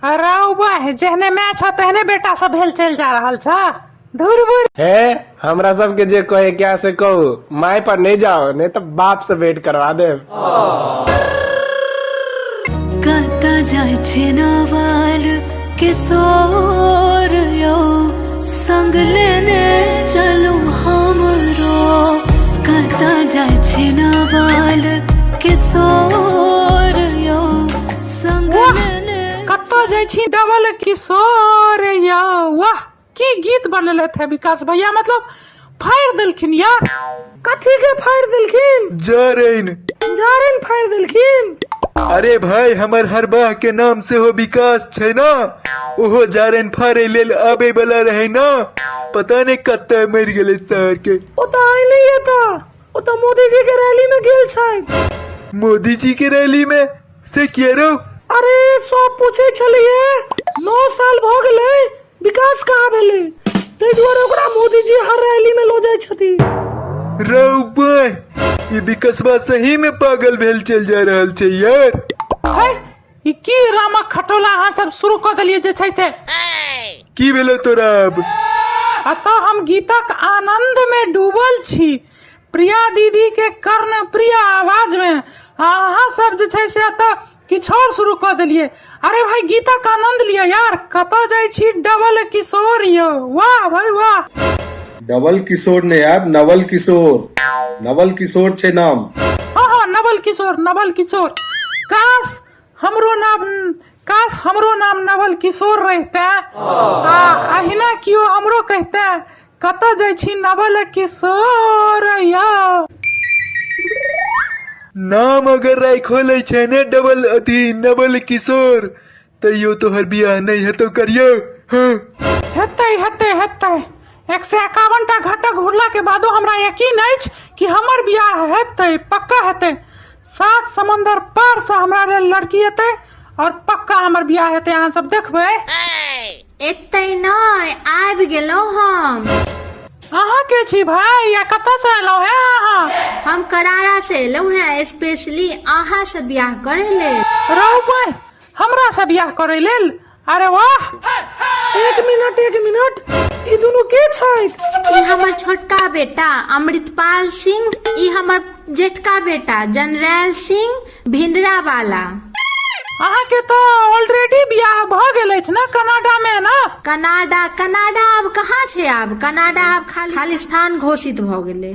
हराउ बहि जेहने माय छह तेहने बेटा सब भेल चलि जा रहल छह धुर बुर हे हमरा सबके जे कहे क्या से कहू माय पर नहीं जाओ नहीं तो बाप से भेंट करवा दे कता जाय छे नवाल किशोर यो संग लेने चलू हमरो कता जाय छे नवाल किशोर वाह कतऽ जाइ छी डबल किशोर या वाह की गीत बनेलथि है विकास भैया मतलब फाड़ि देलखिन या कथी के फाड़ि देलखिन जरैन जारन फाड़ि देलखिन अरे भाई हमर हरबाह के नाम से हो विकास छै ना ओहो जारैन फाड़े लेल आबे वाला रहे ना पता नहीं कत्ते मर गेले शहर के ओ तऽ आइ नहि एता ओ तऽ मोदीजी के रैली में गेल छथि मोदी जी के रैली में से किए रे अरे सब पूछे छलिए नौ साल भ गेले विकास कहाँ भेले ताहि दुआरे ओकरा मोदी जी हर रैली में लो जाय छथि रौ बे ई विकसवा सही में पागल भेल चल जा रहल छै यार है ई की रामक खटोला अहाँ सब शुरू कऽ देलियै जे छै से की भेलो तोरा अब अतः हम गीतक आनंद में डूबल छी प्रिया दीदीके कर्णप्रिय आवाजमे आ अहाँ सब जे छै से एतऽ किछु आओर शुरू कऽ देलियै अरे भाई गीतक आनंद लिअ यार कतऽ जाइ छी डबल किशोर यौ वाह भाई वाह डबल किशोर ने यार नवल किशोर नवल किशोर छै नाम हाँ हाँ नवल किशोर नवल किशोर काश हमरो नाम काश हमरो नाम नवल किशोर रहते आ अहिना कियो हमरो कहते कतऽ जाइ छी नवल किशोर यौ नाम अगर राखो लै छै ने डबल अथी नवल किशोर तैयो तोहर बियाह नहि हेतौ करियौ हँ हेतै हेतै हेतै एक सए एकावन टा घटक घुरला के बादो हमरा यकीन अछि कि हमर बियाह हेतै पक्का हेतै सात समंदर पार से हमरा लेल लड़की एतै और पक्का हमर बियाह हेतै अहाँ सब देखबै एतै नहि आबि गेलहुँ हम अहाँ के छी भाई या कतऽ से एलहुँ हैं अहाँ हम करारा से एलहुँ हैं स्पेशली अहाँ से बियाह करे लेल रहू पर हमरा से बियाह करे लेल अरे वाह एक मिनट एक मिनट ई दुनू के छैथ ई हमर छोटका बेटा अमृतपाल सिंह ई हमर जेठका बेटा जनरैल सिंह भिंडरा वाला अहाँके तऽ ऑलरेडी बियाह भऽ गेल अछि ने कनाडा मे ने कनाडा कनाडा आब कहाँ छै आब कनाडा आब खाली खालिस्तान घोषित भऽ गेलै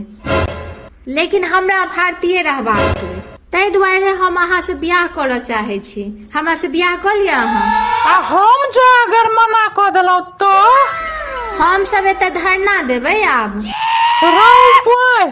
लेकिन हमरा भारतीय रहबाक अइ। ताहि दुआरे हम अहाँ से बियाह करऽ चाहे छी हमरा से बियाह कऽ लिअ अहाँ आ हम जे अगर मना कऽ देलहुँ तऽ हम सब एतऽ धरना देबै आब रौ बॉय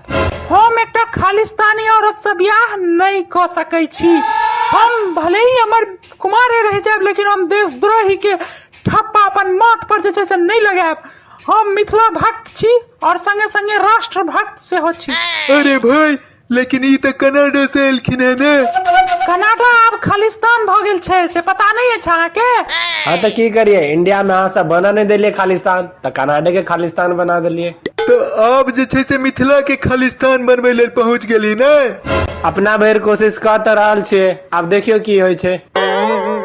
हम एकटा खालिस्तानी औरत से बियाह नहीं क सकै छी हम भले ही हमर कुमारे रह जाएब लेकिन हम देशद्रोही के ठप्पा अपन माथ पर जे छै से नहीं लगाएब हम मिथिला भक्त छी और संगे संगे राष्ट्र भक्त सेहो छी अरे भाई लेकिन ई तऽ कनाडा से एलखिन है ने कनाडा आब खालिस्तान भ गेल छै से पता नहीं अछि अहाँके हाँ तो की करिए इंडिया में अहाँ सब बना नहीं देलिए खालिस्तान तऽ कर्नाटके के खालिस्तान बना देलियै तऽ आब जे छै से मिथिला के खालिस्तान बनबै लेल पहुँच गेली ने अपना भरि कोशिश कऽ तऽ रहल छियै आब देखियौ की होइ छै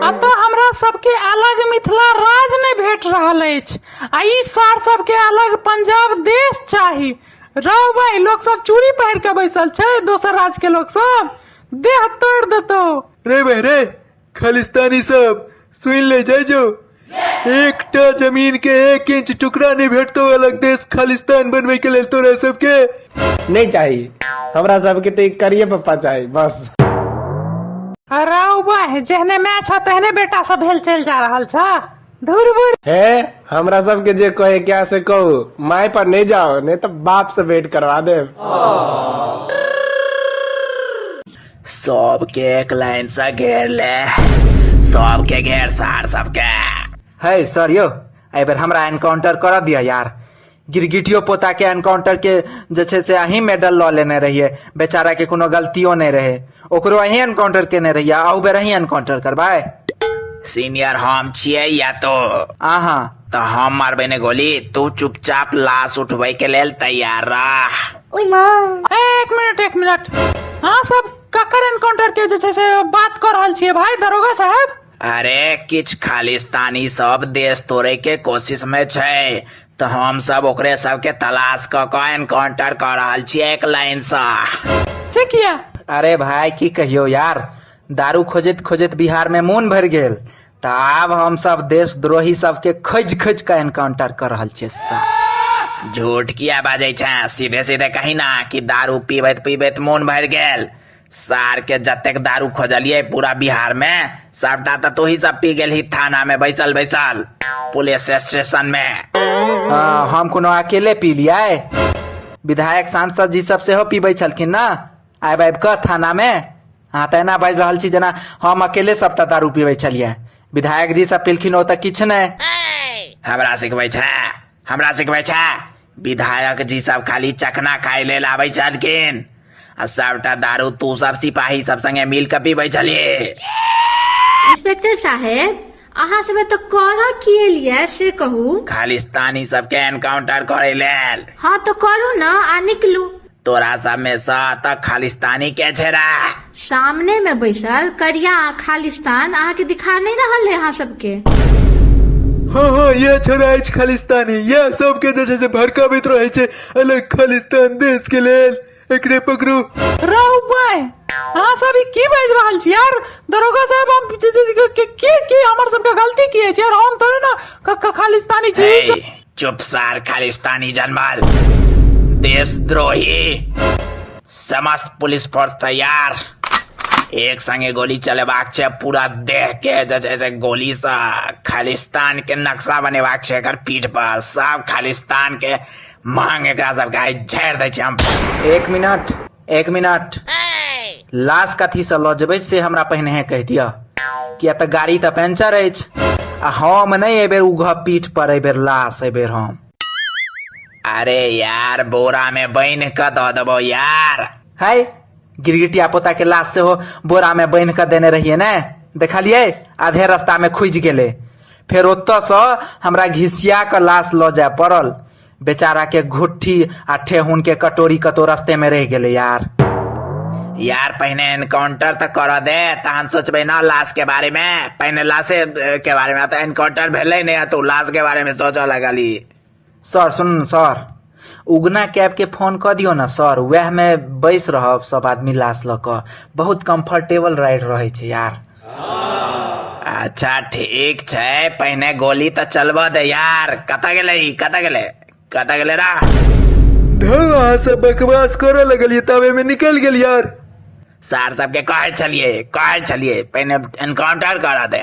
अतः हमरा सबके अलग मिथिला राज नहि भेट रहल अछि आ ई सार सबके अलग पंजाब देश चाही रौ भाई लोक सब चूड़ी पहिर के बैसल छै दोसर राज्य के लोक सब देह तोड़ देतौ रे बहरे खालिस्तानी सब सुन ले जाय जो एकटा जमीन के एक इंच टुकड़ा नहीं भेटतो अलग देश खालिस्तान बनवे के लेल तोरा सबके नहीं चाहिए हमरा सबके तो एक करिए पप्पा चाहिए बस अरे वाह जहने मैं छ तहने बेटा सब भेल चल जा रहल छ धुर बुर है हमरा सबके जे कहे क्या से कहो माय पर नहीं जाओ नहीं तो बाप से भेंट करवा दे सबके एक लाइन से घेर ले सबके घेर सार सबके है सर यो एहि बेर हमरा एनकाउंटर करऽ दिअ यार गिरगिटियो पोता के एनकाउंटर के जे छै से अहीं मेडल लऽ लेने रहिए बेचारा के कोनो गलतियो नहि रहे ओकरो अहीं एनकाउंटर केने रहिए अहू बेर अहीं एनकाउंटर करबै सीनियर हम छियै या तो अहाँ तऽ हम मारबै ने गोली तू चुपचाप लाश उठबै के लेल तैयार रह ओहिमे एक मिनट एक मिनट अहाँ सब ककर एनकाउंटर के जे छै से बात कऽ रहल छियै भाई दरोगा साहब अरे किछ खालिस्तानी सब देश तोड़े के कोशिश में छै तऽ हम सब ओकरे सब के तलाश क क एनकाउंटर कर रहल छियै एक लाइन से से किया अरे भाई की कहियो यार दारू खोजैत खोजैत बिहार में मोन भरि गेल तऽ आब हमसभ देशद्रोही सबके खोजि खोजि कऽ एनकाउंटर कऽ रहल छियै साहब झूठ किया बाजै छै सीधे सीधे कही ना कि दारू पीबैत पीबैत मोन भरि गेल सार के जतेक दारू खोजलियै पूरा बिहार मे सबटा तऽ तोही सब पी गेलही थाना मे बैसल बैसल पुलिस स्टेशन मे हँ, हम कोनो अकेले पीलियै विधायक सांसद जी सब सेहो पीबै छलखिन ने आबि आबि कऽ थानामे अहाँ तऽ एना बाजि रहल छी जेना हम अकेले सभटा दारू पीबै छलियै विधायक जी सब पिलखिन ओ तऽ किछु नहि हमरा सिखबै छै हमरा सिखबै छै विधायक जी सब खाली चखना खाय लेल आबै छलखिन आ सभटा दारू तू सब सिपाही सब संगे मिल कऽ पीबै छलियै इंस्पेक्टर साहेब अहाँ सबे तऽ करऽ की एलियै से कहू खालिस्तानी सबके एनकाउंटर करे लेल हँ तो करू ना आ निकलू तोरा सब में सा तक खालिस्तानी के छेड़ा सामने में बैसल करिया आ खालिस्तान अहाँ के दिखा नहीं रहल है अहाँ सबके हाँ हाँ यह छोरा अछि खालिस्तानी यह सबके जे छै से भड़काबैत रहै छै अलग खालिस्तान देश के लेल एकरे पकड़ो रौ बे अहाँ सब ई की बाजि रहल छी यार दरोगा साहब हम जे- जे- जे- के- के की हमर सबके गलती की अछि यार हम थोड़े ना क- क- खालिस्तानी छी ए, चुप सार खालिस्तानी जनमल देशद्रोही समस्त पुलिस फोर्स तैयार एक संगे गोली चलेबाक छै पूरा देह के जे छै से गोली से खालिस्तान के नक्शा बनेबाक छै एकर पीठ पर सब खालिस्तान के मांग एकरा सबके आइ झाड़ि दै छी हम एक मिनट एक मिनट लाश कथीसँ लऽ जेबै से हमरा पहिने कहि दिअ किया तऽ गाड़ी तऽ पंचर अछि आ हम नहि एहिबेर उघ पीठ पर एहिबेर लाश एहिबेर हम अरे यार बोरा में बन के दऽ देबो यार है गिरगिटिया पोता के लाश सेहो बोरा में बन के देने रहिए ने देखलिए आधे रास्ता में खुजि गेले फेर ओतयसँ हमरा घिसिया कऽ लाश लऽ जाय पड़ल बेचारा के घुट्ठी आ ठेहुन के कटोरी कतौ रस्ते में रह गेले यार यार पहिने एनकाउंटर तऽ करऽ दे तहन सोचबै ने लाश के बारे में पहिने लाशे के बारे में तऽ एनकाउंटर भेलै ने तऽ लाश के बारे में सोचऽ लगली सर सुन ने सर उगना कैबके फोन कऽ दियौ ने सर उएहमे बैस रहब सभ आदमी लाश लऽ कऽ बहुत कम्फर्टेबल राइड रहै छै यार अच्छा ठीक छै पहिने गोली तऽ चलबऽ दे यार कतऽ गेलै ई कतऽ गेलै कतऽ गेलै रा धौ अहाँ सब बकवास करऽ लगलियै तब एहिमे निकलि गेल यार सार सबके कहै छलियै कहै छलियै पहिने एनकाउंटर करऽ दे